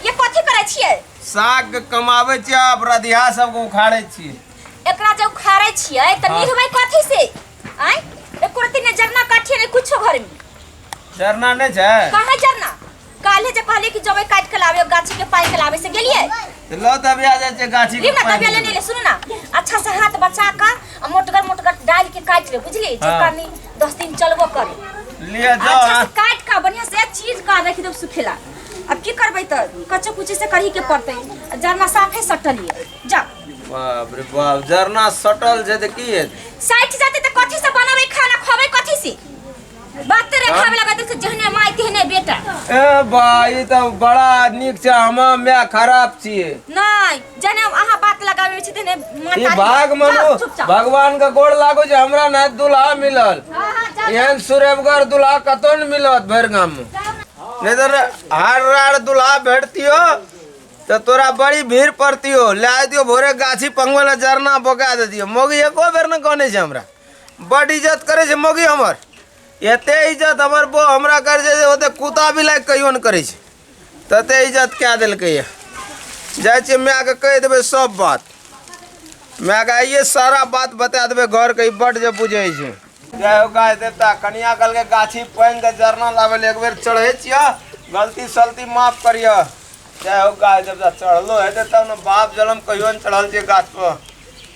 ये कथी करै छियै साग के कमाबै छियै आ रधिया सबके उखाड़ै छियै एकरा जब उखाड़ै छियै तऽ हाँ। निहबै कथी से आय एको रति ने जरना काटिए ने कुछो घर में जरना नहि छै कहाँ जरना काल्हे जे कहलियै कि जबै काट के लाबे गाछी के पाइ के लाबे से गेलियै तऽ लऽ तब आ जाइ छै गाछी के लिम ना पानि तबिया लेने ले सुन ना अच्छा से हाथ बचा का आ मोटगर मोटगर डाल के काट ले बुझली जे हाँ। कनी दस दिन चलबो करे ले अच्छा जाओ से काट का बढ़िया से चीज का रखी दब सुखेला अब की करबै त कच्चे कुचे से करही के पड़तै आ जरना साफे सटलिए जा बाप रे बाप जरना सटल छै तऽ की हेतै साइड जाते त कथी से बनाबै खाना खबै कथी से बात रे खावे लगा देख जहने माय तेहने बेटा ए बा ई तऽ बड़ा नीक छै हम मैं खराब छियै नहीं जने अहाँ बात लगाबै छी तने ई माता भाग मनो चुपचाप भगवान का गोड़ लागो जे हमरा ना दुल्हा मिलल हाँ, हाँ, जाओ, एहन सुरेबगर दुल्हा कतौ न मिलत भरि गाम में जाओ ना। नहीं तो हार रार दुल्हा भेटतियो तो तोरा बड़ी भीड़ पड़तियो ले आय दियो भोरे गाछी पंगवे ला जरना बोका दे दियो मोगी एको बेर न कहने छै हमरा बड इज्जत करे छै मोगी हमर एते इज्जत हमर बो हमरा करे छै जे ओते कुत्ता बिलाइ कहियो न करे छै तते इज्जत कए देलकै यऽ जाइ छियै मायके कहि देबै सब बात मायके आइए सारा बात बता देबै घरके ई बड्ड जे बुझै छै जय हो गाय देवता कनिया कल के गाछी पानि के जरना लावल एक बेर चढ़े छिया गलती सलती माफ करिया जय हो गाय देवता चढ़लो हेतै तब ने बाप जलम कहियो ने चढ़ल छै गाछ पर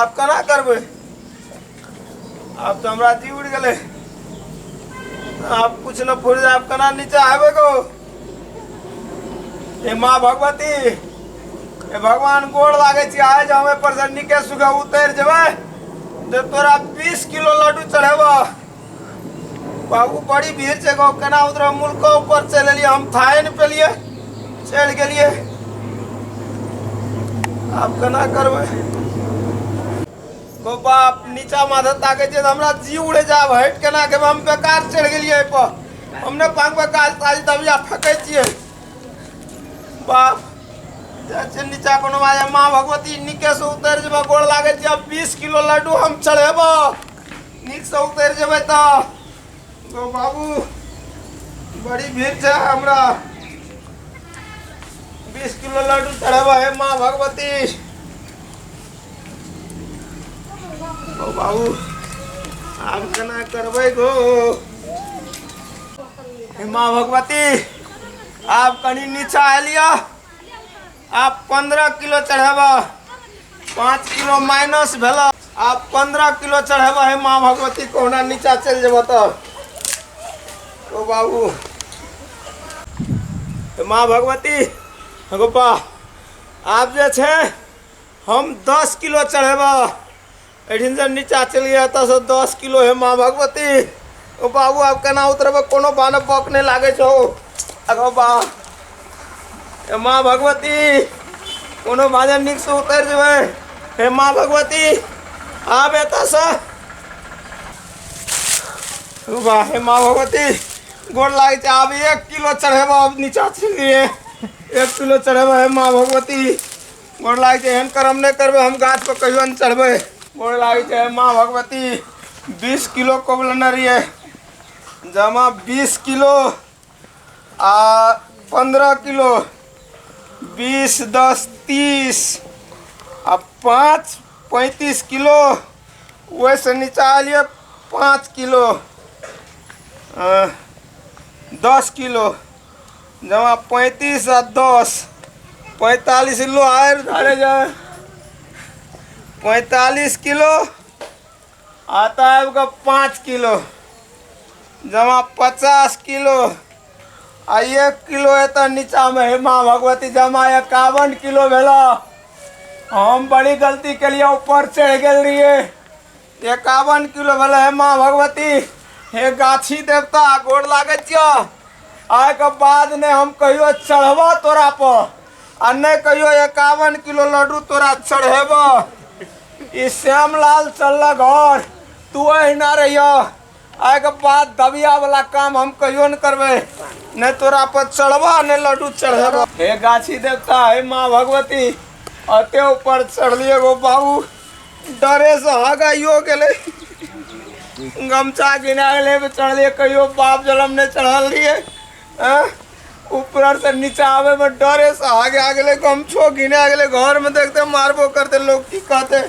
आब केना करबै आब तऽ हमरा जी उड़ि गेलै आब कुछ न फुर आब केना नीचा हेबै गो ए माँ भगवती ए भगवान गोड़ लागै छी आइ जे हम एहिपर से नीके सुखे उतरि जेबै जे तोरा बीस किलो लड्डू चढ़ेबह बाबू बड़ी भीड़ से गाँव केना उतरा मुल्को ऊपर से लेलिए हम थाए ने पेलिए चल गलिए आप केना करबे गो बाप नीचा माथे ताके जे हमरा जी उड़े जाब हट केना के हम बेकार चढ़ गलिए पर हमने पांग पे काज ताज दबिया फेंके छिए बाप जाचे नीचा कोनो बाजे माँ भगवती निके से उतर जेबा गोड़ लागे छी अब 20 किलो लड्डू हम चढ़ेबो नीक से उतर जेबै त गो बाबू बड़ी भीड़ छै हमरा बीस किलो लड्डू चढ़ाबा है माँ भगवती गो बाबू आब केना करबै गो हे माँ भगवती आब कनी नीचा एलिया आब पंद्रह किलो चढ़ेब पाँच किलो माइनस भेल आब पंद्रह किलो चढ़ेब हे माँ भगवती कहुना नीचा चलि जेब तऽ ओ बाबू हे माँ भगवती हे गोपा आब जे छै हम दस किलो चढ़ेब एहिठिन से नीचा चलि गेल एतऽ से दस किलो हे माँ भगवती ओ बाबू आब केना उतरबै कोनो बानब बक नहि लागै छौ अगो बा हे माँ भगवती कोनो बाजन नीक से उतरि जेबै हे माँ भगवती आब एतऽ से ओ बा हे माँ भगवती गोर लागै छै आब एक किलो चढ़ेबो आब नीचा चलि गेलियै एक किलो चढ़ेबो हे माँ भगवती गोड़ लागै छै एहन कर्म नहि करबै हम गाछ पर कहियो नहि चढ़बै गोड़ लागै छै माँ भगवती बीस किलो कोबलने रहियै जमा बीस किलो आ पंद्रह किलो बीस दस तीस आ पाँच पैंतीस किलो ओहिसँ नीचा एलियै पाँच किलो अ, दस किलो जमा पैंतीस आ दस पैंतालीस किलो आयल धारे जाए पैंतालीस किलो आता आबि कऽ पाँच किलो जमा पचास किलो आ एक किलो एतऽ नीचाँमे हे माँ भगवती जमा एकावन किलो भेला हम बड़ी गलती केलियै ऊपर चढ़ि गेल रहियै एकावन किलो भेल हे माँ भगवती हे गाछी देवता गोड़ लागे छियो आय के बाद ने हम कहियो चढ़बो तोरा पर आ ने कहियो एकावन किलो लड्डू तोरा चढ़ेबो ई श्यामलाल चलल घर तू अहिना रहियो आइके बाद दबिया वाला काम हम कहियो न करबे नहीं तोरा पर चढ़बा नहीं लड्डू चढ़ेबा हे गाछी देवता हे माँ भगवती अते ऊपर चढ़लिए गो बाबू डरे से हगाइयो गेले गमछा गिना गेले पे चढ़लिए कहियो बाप जलम नहीं चढ़ल रहिए हाँ? ऊपर से नीचा आवे में डरे से आगे आ गेले गमछो गिना गेले घर में देखते मारबो करते लोग की कहते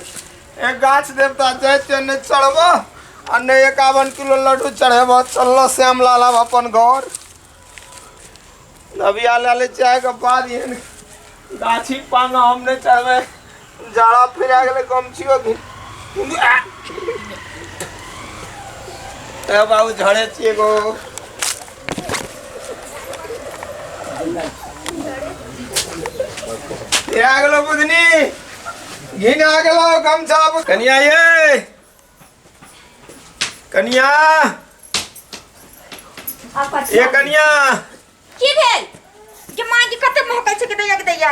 ए गाछ देवता जाय छै ने चढ़ब आ ने एकावन किलो लड्डू चढ़ेब चलल श्याम लाल आब अपन घर नबिया लए ले चाहे के बाद एहन गाछी पाना हम नहि चढ़बै जाड़ा फिरा गेलै गमछियो घि ए बाबू झड़े छियै एगो ए आ गेलो बुधनी घिन आ गेलो गमछा बु- कनिया ये कनिया ए कनिया की भेल जे माँ के कते महकै छै के दैया के दैया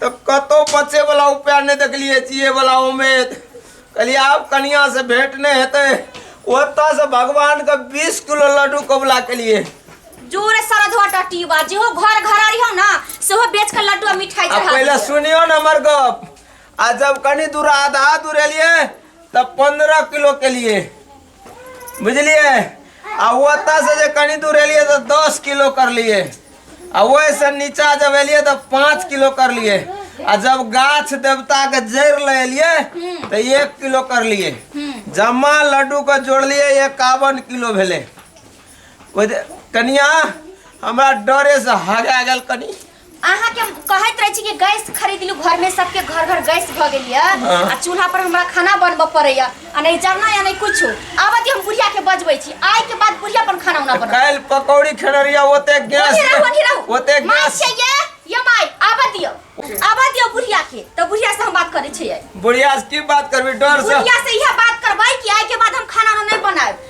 तऽ कतहु बचैवला उपाय नहि देखलियै जियैवला उमेद कहलियै आब कनिआँसँ भेंट नहि हेतै ओतयसँ भगवानके बीस किलो लड्डू कबूला केलियै जोरे सारा धोआ टट्टी बा जेहो घर घर रही हो ना सेहो बेच के लड्डू आ मिठाई आ चढ़ा पहिले दियो। सुनियो ने हमर गप आ जब कनी दूर आधा दूर एलियै तब पंद्रह किलो केलियै बुझलिए आ ओतऽ से जे कनी दूर एलिए तो दस किलो कर लिए आ वैसे नीचा जब एलिए तो पाँच किलो कर लिए आ जब गाछ देवता के जड़ ले एलिए तो एक किलो कर लिए जमा लड्डू के जोड़लिए एकावन किलो भेले कनिया हमरा डरे से हगा गेल कनी अहाँ के कहैत रहे छी कि गैस खरीद लू घर में सबके घर घर गैस भ गेल या हाँ। आ चूल्हा पर हमरा खाना बनबऽ पड़ैया आ नहीं जरना या नहीं कुछ आबत हम बुढ़िया के बजबै छी आइ के बाद बुढ़िया अपन खाना उना बनब काल्हि पकौड़ी खेनरिया ओते गैस ओही रहू ओही रहू ओते माय गैस चाहिए ये माय आबऽ दियो आबऽ दियो बुढ़िया के तो बुढ़िया से हम बात करै छियै बुढ़िया से की बात करबी डर से बुढ़िया से इहे बात करबै कि आइ के बाद हम खाना उना नहीं बनाएब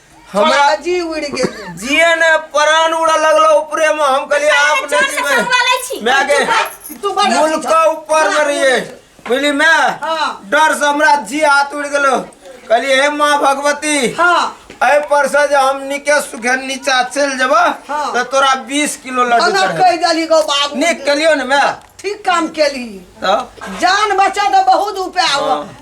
हमरा जी उड़ गेल जिए ने प्राण उड़ा लगलो ऊपरे में हम कहली आप चोट नहीं से जीवे पकड़वा लै छी मैं आगे तू बड़ मुल का ऊपर में रहिए बुझली मैं हाँ। डर से हमरा जी हाथ उड़ गेलो कहली हे माँ भगवती हाँ अय पर से जे हम निके सुखे नीचा चल जब हाँ। तो तोरा 20 किलो लड्डू अनर चढ़े कह देली गो बाबू निक कलियो ने मैं ठीक काम केली तो जान बचा तो बहुत उपाय हुआ हाँ।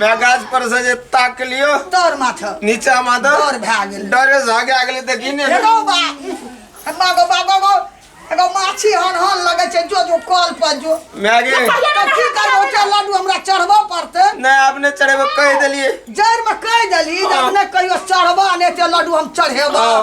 मैं गाछ पर से जे ताक लियो डर माथा नीचा में दो डर भए गेल डरे से आगे आगे तक ही नहीं हेलो बा हमरा गो बा गो एगो माछी हन हन लगे छै जो जो कल पर जो मैं गे तो की करबो छै लड्डू हमरा चढ़बो पड़ते नहीं आपने चढ़े कह दिलिए जड़ में कह देली जे अपने कहियो चढ़बो ने ते लड्डू हम चढ़ेबो हाँ।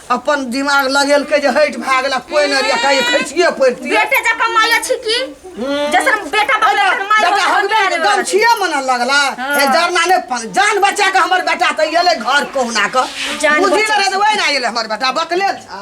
अपन दिमाग लगेलकै जे हटि भए गेला कोइ नहि रहै कहियो खैसिए पड़तियै बेटे जकाँ माय अछि की जैसन बेटा बाप लए अपन माय जकरा बाप हम हमरा रहै। गम छियै मन लगला हे जरना नहि पन जान बचा के हमर बेटा तऽ एलै घर कहुना के जान बुद्धि बचा नहि रहै तऽ ओहि ना एलै हमर बेटा बकले था